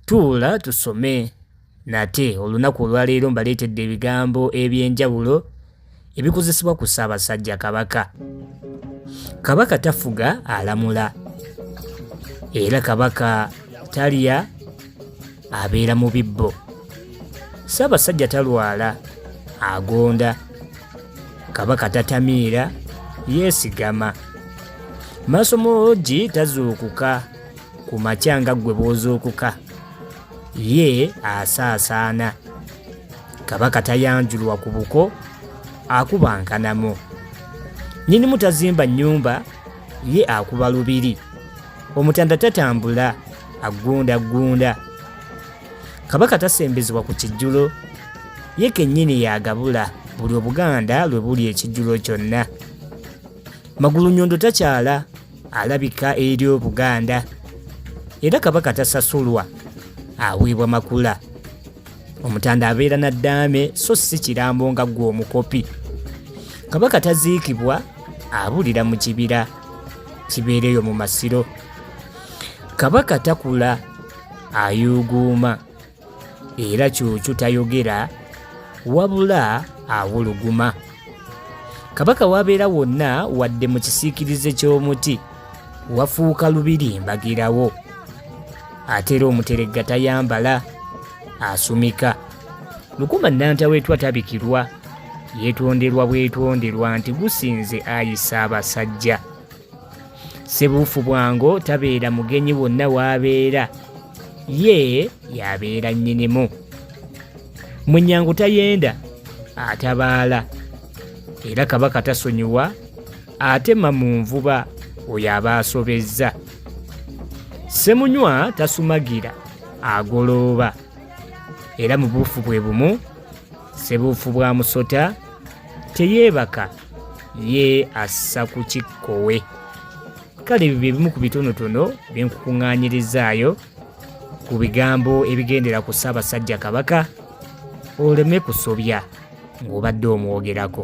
tuula tusome nate olunaku olwaleero mbaleetedde ebigambo eby'enjawulo ebikozesebwa ku ssaabasajja kabaka kabaka tafuga alamula era kabaka talya abeera mu bibbo ssaabasajja talwala agonda kabaka tatamiira yeesigama maaso moogi tazuukuka ku makya nga ggwe bw'ozuukuka ye asaasaana kabaka tayanjulwa ku buko akuba nkanamo nyinimu tazimba nnyumba ye akuba lubiri omutanda tatambula aggundaggunda kabaka tasembezebwa ku kijjulo ye kennyini yagabula buli obuganda lwe buli ekijjulo kyonna magulu nyondo takyala alabika eri obuganda era kabaka tasasulwa aweebwa makula omutanda abeera na ddaame so si kirambo nga ggwe omukopi kabaka taziikibwa abulira mu kibira kibeereyo mu masiro kabaka takula ayuuguuma era kyukyu tayogera wabula awuluguma kabaka wabeera wonna wadde mu kisiikirize ky'omuti wafuuka lubiri mbagirawo ate era omuteregga tayambala asumika lukuma nnantawetwa tabikirwa yeetonderwa bwetonderwa nti gusinze ayisa abasajja sebuufu bwango tabeera mugenyi wonna waabeera ye yabeera nnyinimu munyangu tayenda atabaala era kabaka tasonyiwa atema mu nvuba oyo aba asobezza semunywa tasumagira agolooba era mu buufu bwe bumu sebuufu bwa musota teyeebaka ye assa ku kikkowe kale bye bimu ku bitonotono byenkukuŋŋaanyirizaayo ku bigambo ebigendera ku ssaabasajja kabaka oleme kusobya ng'obadde omwogerako